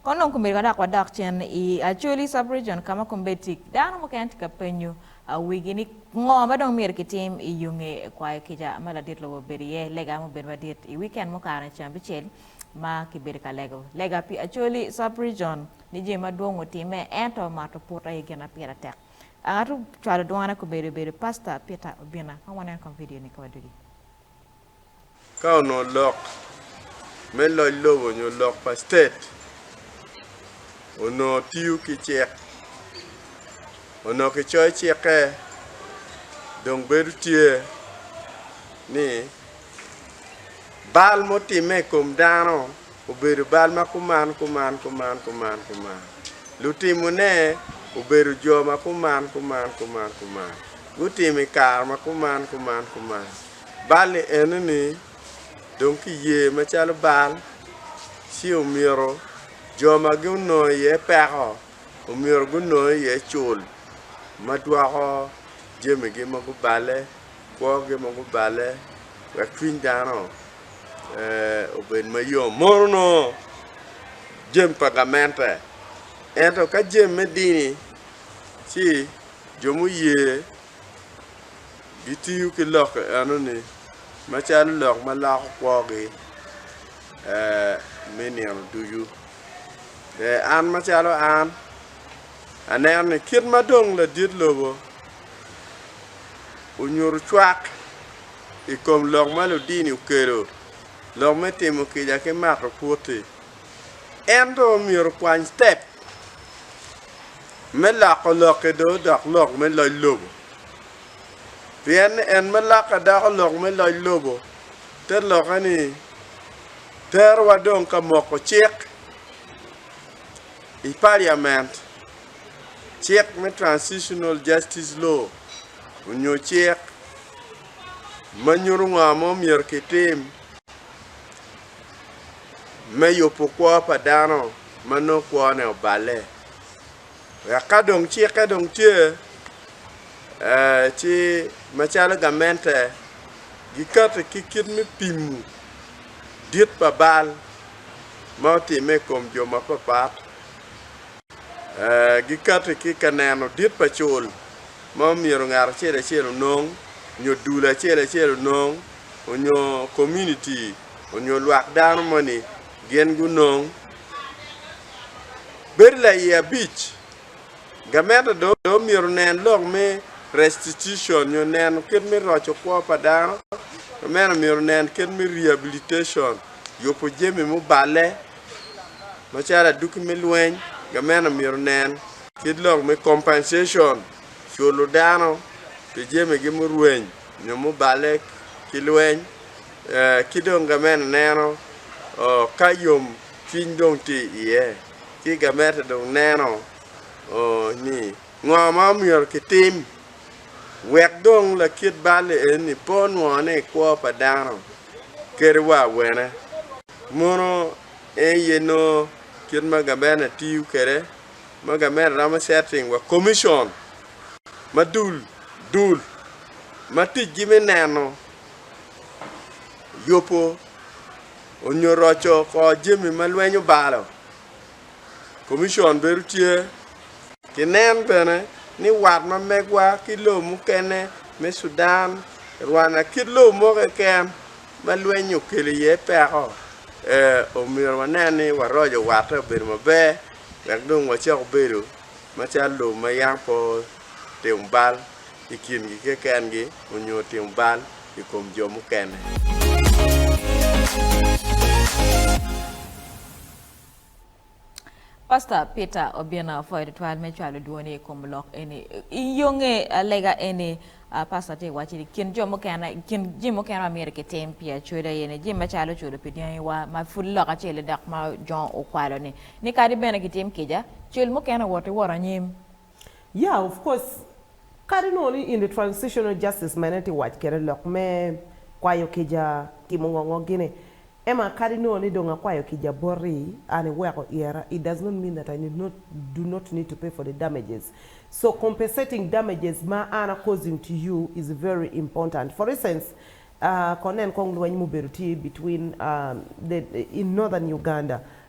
Kong dong komedo ka dok wadok cen i Acholi Sub-Region ka ma kombeddi tic dano mukene tye ka penyo wigi ni ngo ma dong myero kitim i yo nge kwayo kica ma ladit lobo obedo iye. Lega mubedo madit i wikend mukato-ni ceng abicel ma kibedo ka lego lega pi Acholi Sub-Region ni jami madwong otimme ento mato put aye gin ma pire tek. Ngat ocwalo dwone komedo obedo Pasta Peter Obina. Kong wanen kong vidio-ni ka wadugi. Ka onongo lok me loc lobo nyo lok pa state onongo tiyo ki cik, onongo kicoyo cikke dong bedo tye ni bal mutimme i kom dano obedo bal ma kuman kuman kuman kuman kuman, lutimone obedo jo ma kuman kuman kuman kuman, gutimo i kare ma kuman kuman kuman. Bal-li enoni dong kiye macalo bal, ci omyero jo ma gunongo iye peko omyero gunong iye cul ma dwoko jamigi ma guballe, kwogi ma guballe wek cwiny dano obed mayom mono onongo jami pa gamente. Ento ka jami me dini ci jo muye gitiyo ki lokke enoni macalo lok ma loko kwogi me nino ducu. An macalo an aneno ni kit ma dong ladit lobo onyuto cwak i kom lok ma ludini okelo, lok me timo kica ki mato pwoti, en dong myero okwany citep. me lako lokke do dok lok me loc lobo. Pien ni en ma lakka dako lok me loc lobo, te lokke ni terowa dong ka moko cik i Paliament, cik me Transitional Justice Law, onyo cik ma nyuto ngo mo myero ki tim me yubo kwo pa dano ma nongo kwone oballe. wek ka dong cikke dong tye ci macalo gamente gikati ki kit me pimo dit pa bal ma otimme i kom jo mapapat, gikati ki ka neno dit pa cul ma myero ngat acel acel onong nyo dul acel acel onong nyo komuniti nyo lwak dano moni gin gunong bedo laiye abic. Gamente dong omyero nen lok me restitution nyo neno kit me roco kwo pa dano, ki meno omyero nen kit me rehabilitation, yubo jami muballe macalo aduki me lweny, gamente omyero nen kit lok me compensation, culo dano pi jamigi murweny nyo muballe ki lweny. Ki dong gamente neno ka yom cwiny dong tye iye, ci gamente dong neno ni ngo ma omyero kitim wek dong lakit bal-li eni pe onwongo ni kwo pa dano kadi wa awene. Mono eye nongo kit ma gamente tiyo kwede, ma gamente romo setting wa komicon ma dul dul ma ticgi me neno yubo onyo roco kor jami ma lweny obalo, Commission bedo tye ki nen bene ni wat ma megwa ki lobo mukene me Sudan, Rwanda kit lobo mo keken ma lweny okelo iye peko omyero wanen ni waroco watte obedo maber wek dong wacok bedo macalo lobo ma yam pe timo bal i kingi kekengi onyo timo bal i kom jo mukene. Pastor Peter obino pwoyo tutwal me cwalo dwoni i kom lok eni. I yo nge lega eni, Pastor tye ka waco ni kin jo mukene, kin jami mukene ma myero kitim pi acoda aye ni jami macalo cudo pi dyangiwa ma pud lok acel-li dok ma jo okwalo-ni, ni kadi bene kitim kica, cul mukene woti wot anyim. Yeah of course kadi nongo ni in the transitional justice ma en aye tye wac kwede lok me kwayo kica timo ngo ngo gini Emma kadi nongo ni dong akwayo kica boti an iweko iyera it does not mean that I do not need to pay for the damages so compensating damages ma an a causing to you is very important for instance ahh ko nen kong lweny ma obedo tye between the in northern Uganda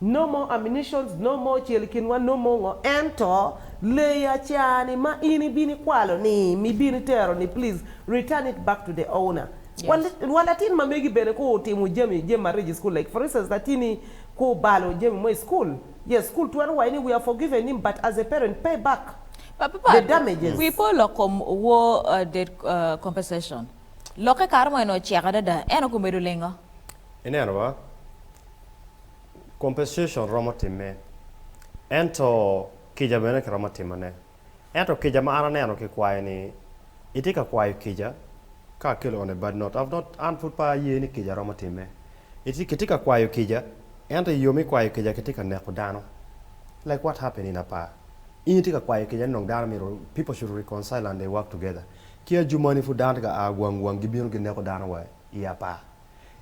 No more ammunitions, no more cel i kinwa, no more ngo. Ento, leyi acaani ma in ibino ikwalo ni mi ibino itero ni please return it back to the owner. Yes. Wa latin ma megi bene ku otimo jami jami marec i school like for instance latini ku obalo jami mo i school, yes school twero waci ni we have forgiven him but as a parent pay back the damages. Wi pe olok kom war debt compensation. Lokke kare mo eno ocek adada eno gumedo lingo. Ineno ma? Compensation romo timme, ento kica bene kiromo timone. Ento kica ma an aneno kikwayo ni, itye ka kwayo kica ka akelo one bad not, I've not, an pud pe aye ni kica romo timme. Itye, kitye ka kwayo kica, ento i yo me kwayo kica kitye ka neko dano. Like what happened in Apaa. In itye ka kwayo kica ni dong dano myero, people should reconcile and they work together. Ki ajumani pud dano tye ka a gwang gwang gibino gineko dano wa i Apaa.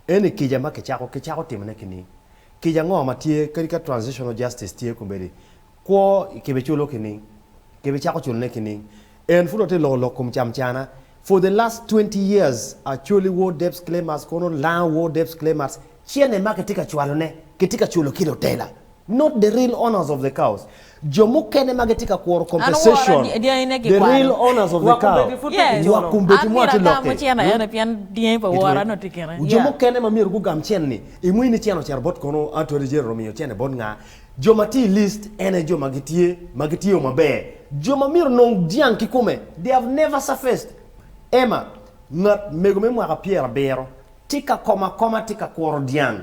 Eni kica ma kicako ki cako timone ki niing. Kica ango ma tye kadi ka transitional justice tye kombeddi? Kwo kibiculo ki niing? Kibicako culone ki niing? En pud watye loko lok kom camcana. For the last twenty years Acholi War Debts Claimers kono Laa War Debts Claimers. Cene ma kitye ka cwalone kitye ka culo ki lutela. Not the real owners of the cows, jo mukene ma gitye ka kuro compensation, the real owners of the cow, nywak kombeddi mo atye lokke, hmm, jo mukene ma myero gugam cen-ni, imwii ni cen ocito bot kono, Atwade Jerry omiyo cene bot nga? Jo ma tye i list en aye jo ma gitye, ma gitye o maber, jo ma myero onong dyang kikome, they have never surfaced. Emma, ngat mego me mwaka pyerabiro, tye ka koma akoma tye ka kuro dyang.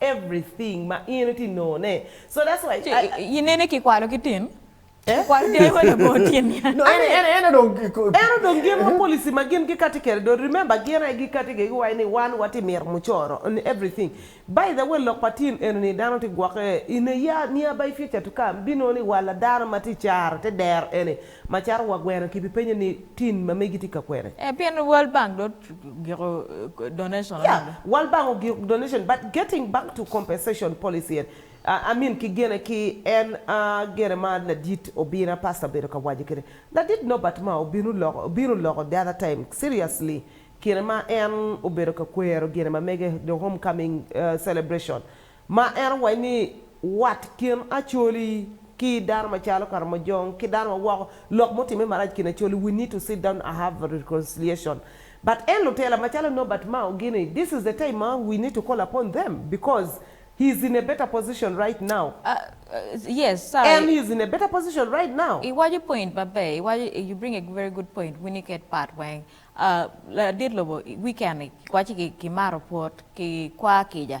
everything ma in iti nongo ne so that's why Ci I, I, inene ki kwalo ki tin? Eh? Ki kwalo dyangi ma labongo tyen ni an? No, I mean, en eno dong ki- ko- eno dong gin ma policy ma gin gikati kede do remember gin aye gikati kede giwaci ni wan wati mito mucoro and everything by the way lok pa tin eno ni dano ti gwoke in a year nearby future to come binongo ni walla dano ma ti caro te dero eni Macaro wa gweno ki bi penyo ni tin ma megi tye ka kwene. Eh pien world bank dong ogiko donation Yeah anonge. world bank ogiko donation but getting back to compensation policy en ah I mean ki gene ki en ah gene ma ladit obina pastor obedo ka waco kene ladit Nobert ma obinu loko obinu loko the other time seriously kine ma en obedo ka kwero gine ma mege the home coming celebration Ma en owaco ni, Wat kin Acholi ki dano macalo Karamojong ki dano ma woko, lok mutimme marac kin Acholi, we need to sit down and have a reconciliation. But en lutela macalo Norbert Mao gini, this is the time ma we need to call upon them because he is in a better position right now. Yes, sorry. En he is in a better position right now. Iwaco point maber, iwaco you bring a very good point wun iket part weng. Ladit lobo weekend ni waci ki maro pwot ki kwar kica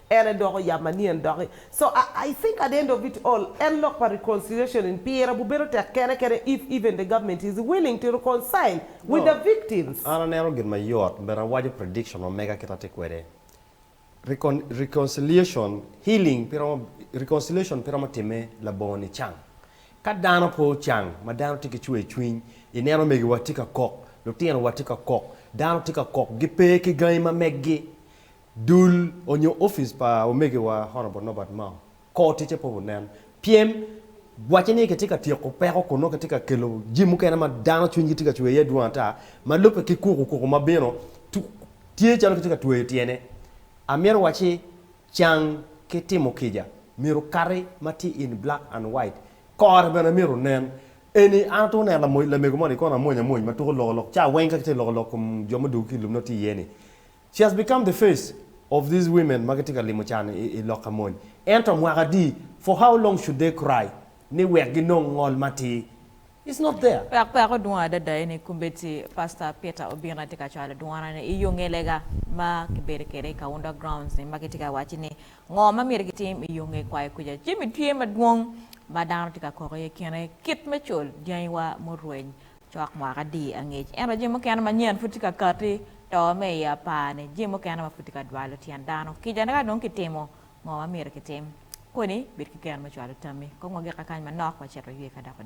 En aye doko yam manyen doki. So I I think at the end of it all en lok pa reconciliation in pire bu bedo tek kene kene if even the government is willing to reconcile with the victims. An aneno gin ma yot but awaco prediction ma mega kit atye kwede. Recon reconciliation healing pe romo reconciliation pe romo timme labongo nicang. Ka dano pe ocang ma dano tye ki cwer cwiny ineno omegiwa tye ka kok, lutino wa tye ka kok, dano tye ka kok gipe ki gangi ma meggi. Dul onyo ofice pa omege wa Honourable Norbert Mao kor ticce pe onen pyem waco ni kitye ka tyeko peko kun nongo kitye ka kelo jami mukene ma dano cwiny gi tye ka cwer iye dwong ata ma lubbe ki kuku kuku ma bino tye calo kitye ka tweyo tyene amito waci can ki timo kica myero kati ma tye in black and white kore bene myero onen eni an atwero neno lamego moni kono amwony amwony ma tuko loko lok ca weng ka kitye ka loko lok kom jo ma odwogo ki i lum nongo tye iye ni She has become the face of these women ma gitye ka limo can i, i lok ka mony. Ento mwaka adi, for how long should they cry ni wek ginong ngol matir? It's not there. Wek peko dwong adada eni i kombeddi, Pastor Peter obino aye tye ka cwalo dwonone i yo nge lega ma kibedo kwede i Kaunda Grounds ni ma gitye ka wacci ni ngo ma myero gitim i yo nge kwayo kuca. Jami tye madwong ma dano tye ka kok iye kine kit me col dyangiwa murweny Cwak mwaka di angec, ento jami mukene manyen pud tye ka kati. To me i apar ni jami mukene ma pud tye ka dwalo tyen dano kica ni ka dong kitimo ngo ma myero kitim koni bed ki gen me cwalo tammi kong wagik akany manok wacito ywe ka doko dwe.